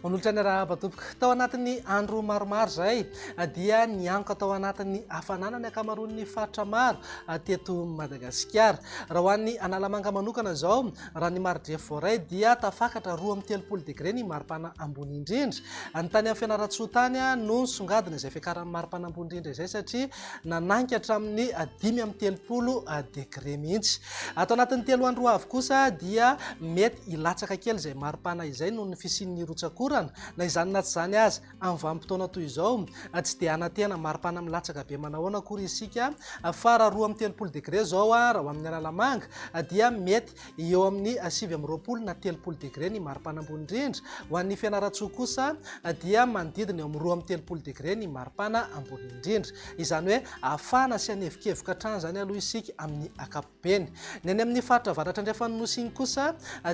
Manolotra ny arahaba tompoko. Tao anatin'ny andro maromaro izay dia niankoka tao anatin'ny hafanana ny ankamaroan'ny faritra maro teto Madagasikara. Raha ho an'ny Analamanga manokana izao Raha ny maridrefy voaray dia tafakatra roa amby telopolo degre ny maripana ambony indrindra. Ny tany amin'ny Fianarantsoa tany no nisongadina izay fiakaran'ny maripana ambony indrindra izay satria nanangy hatramin'ny dimy amby telopolo degre mihitsy. Ato anatin'ny telo andro ho avy kosa dia mety hilatsaka kely izay maripana izay noho ny fisian'ny rotsakorana. Na izany na tsy izany aza, Amin'ny vanim-potoana toy izao, tsy dia hanantena maripana milatsaka be manahoana akory isika fa raha roa amby telopolo degre izao raha ho amin'ny Analamanga dia mety eo amin'ny sivy amby roapolo na telopolo degre ny maripana ambony indrindra. Ho an'ny Fianarantsoa kosa dia manodidina eo amin'ny roa amby telopolo degre ny maripana ambony indrindra. Izany hoe hafana sy hanevokevoka hatrany izany aloha isika amin'ny ankapobeny. Beny. Ny any amin'ny faritra avaratra andrefan'ny Nosy iny kosa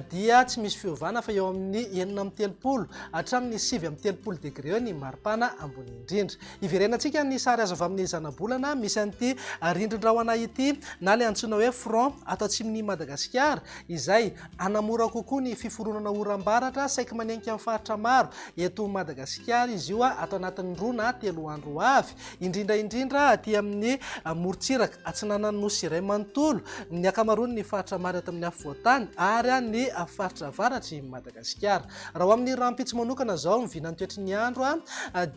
dia tsy misy fiovana fa eo amin'ny enina amby telopolo hatramin'ny sivy amby telopolo degre eo ny maripana ambony indrindra. Hiverenantsika ny sary azo avy amin'ny zanabolana misy an'ity rindrin-drahona ity na ilay antsoina hoe front ato atsimon'i Madagasikara izay hanamora kokoa ny fiforonana oram-baratra saiky manenika ny faritra maro eto Madagasikara izy io ato anatin'ny roa na telo andro ho avy. indrindra indrindra aty amin'ny morontsiraka atsinanan'ny nosy iray manontolo, ny ankamaroan'ny faritra maro eto amin'ny afovoan-tany ary ny faritra avaratr'i Madagasikara. Raha ho amin'ny rahampitso manokana izao ny vinan'ny toetry ny andro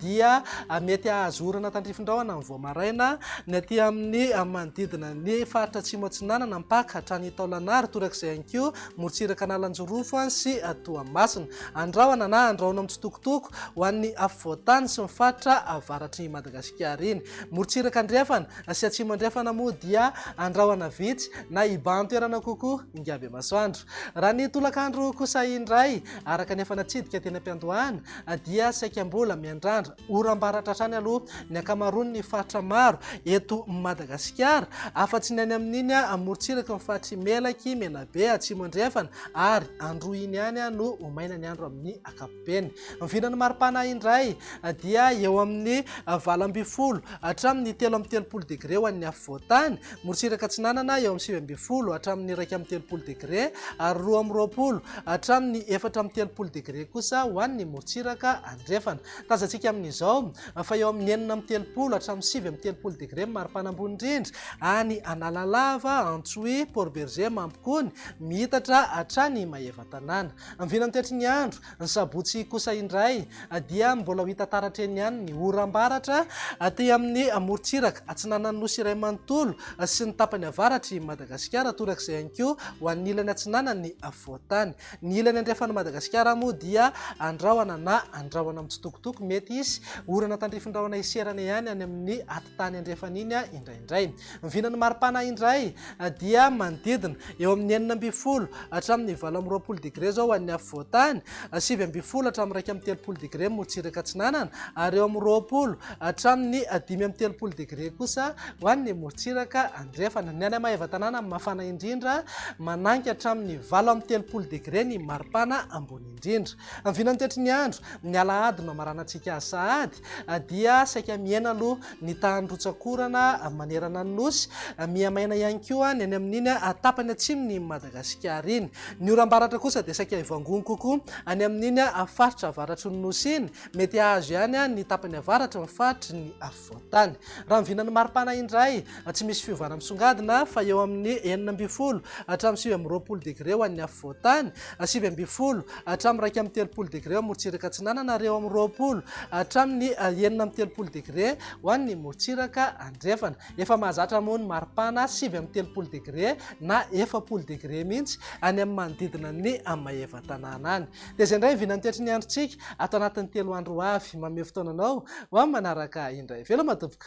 dia mety hahazo orana tandrifin-drahona amin'ny vao maraina ny aty amin'ny manodidina ny faritra atsimo atsinanana, mpaka hatrany Taolagnaro, torak'izay ihany koa Morotsirak'Analanjirofo sy Toamasina. Andrahona na andrahoina mitsitokotoko ho an'ny afovoan-tany sy ny faritra avaratr'i Madagasikara iny. Morotsiraka Andrefana sy Atsimo Andrefana moa dia andrahona vitsy na ibahan-toerana kokoa Ingabemasoandro. Raha ny tolakandro kosa indray, araka ny efa natsidika teny am-piandohana, dia saika mbola miandrandra. Oram-baratra hatrany aloha ny ankamaroan'ny faritra maro eto Madagasikara, afa-tsy ny any amin'iny amorontsiraky ny faritr'i Melaky, Menabe, Atsimo Andrefana ary Androhiany ihany no ho maina ny andro amin'ny ankapobeny. Ny vinan'ny maripana indray dia eo amin'ny valo ambin'ny folo hatramin'ny telo amby telopolo degre ho an'ny afovoan-tany, morontsiraka atsinanana eo amin'ny sivy ambin'ny folo hatramin'ny iraika amby telopolo degre ary roa amby roapolo hatramin'ny efatra amby telopolo degre kosa ho an'ny morontsiraka Andrefana. Tazantsika amin'izao fa eo amin'ny enina amby telopolo hatramin'ny sivy amby telopolo degre ny maripana ambony indrindra any Analalava, Antsohihy, Port Bergé, Mampikony, miitatra hatrany Maevatanàna. Ny vinany toetry ny andro, ny sabotsy kosa indray dia mbola ho hita taratra eny ihany ny oram-baratra aty amin'ny morontsiraka atsinanan'ny Nosy iray manontolo sy ny tapany avaratr'i Madagasikara, torak'izay ihany koa ho an'ny ilany atsinanan'ny afovoan-tany. Ny ilany andrefan'i Madagasikara moa dia andrahona na andrahona mitsitokotoko, mety hisy orana tandrifin-drahona hiserana ihany any amin'ny atitany andrefana iny indraindray. Ny vinan'ny maripana indray dia manodidina eo amin'ny enina ambin'ny folo hatramin'ny valo amby roapolo degre izao ho an'ny afovoan-tany, sivy ambin'ny folo hatramin'ny iraika amby telopolo degre motsiraka atsinanana ary eo amin'ny roapolo hatramin'ny dimy amby telopolo degre kosa ho an'ny motsiraka andaniny. Drefana, Ny any Maevatanàna mafana indrindra, manangy hatramin'ny valo amby telopolo degre ny maripana ambony indrindra. Amin'ny vinan'ny tetry ny andro, ny alahady nohamaranantsika azy sahady, dia saika mihena aloha ny tahan'ny rotsak'orana manerana ny Nosy. Mihamaina ihany koa ny any amin'iny tapany atsimon'i Madagasikara iny. Ny oram-baratra kosa dia saika hivangoana kokoa any amin'iny faritra avaratry ny Nosy iny. Mety hahazo ihany ny tapany avaratra ny faritry ny. Voatany. Raha ny vinan'ny maripana indray, tsy misy fiovana misongadina fa eo amin'ny enina ambin'ny folo hatramin'ny sivy amby roapolo degre ho an'ny afovoantany, sivy ambin'ny folo hatramin'ny iraika amby telopolo degre ho an'ny morontsiraka atsinanana ary eo amin'ny roapolo hatramin'ny enina amby telopolo degre ho an'ny morontsiraka andrefana. Efa mahazatra moa ny maripana sivy amby telopolo degre na efapolo degre mihitsy any amin'ny manodidina ny Maevatanàna any. Dia izay indray ny vinan'ny toetry ny androntsika ato anatin'ny telo andro ho avy. Mameho fotoana anao ho amin'ny manaraka indray. Veloma tompoko.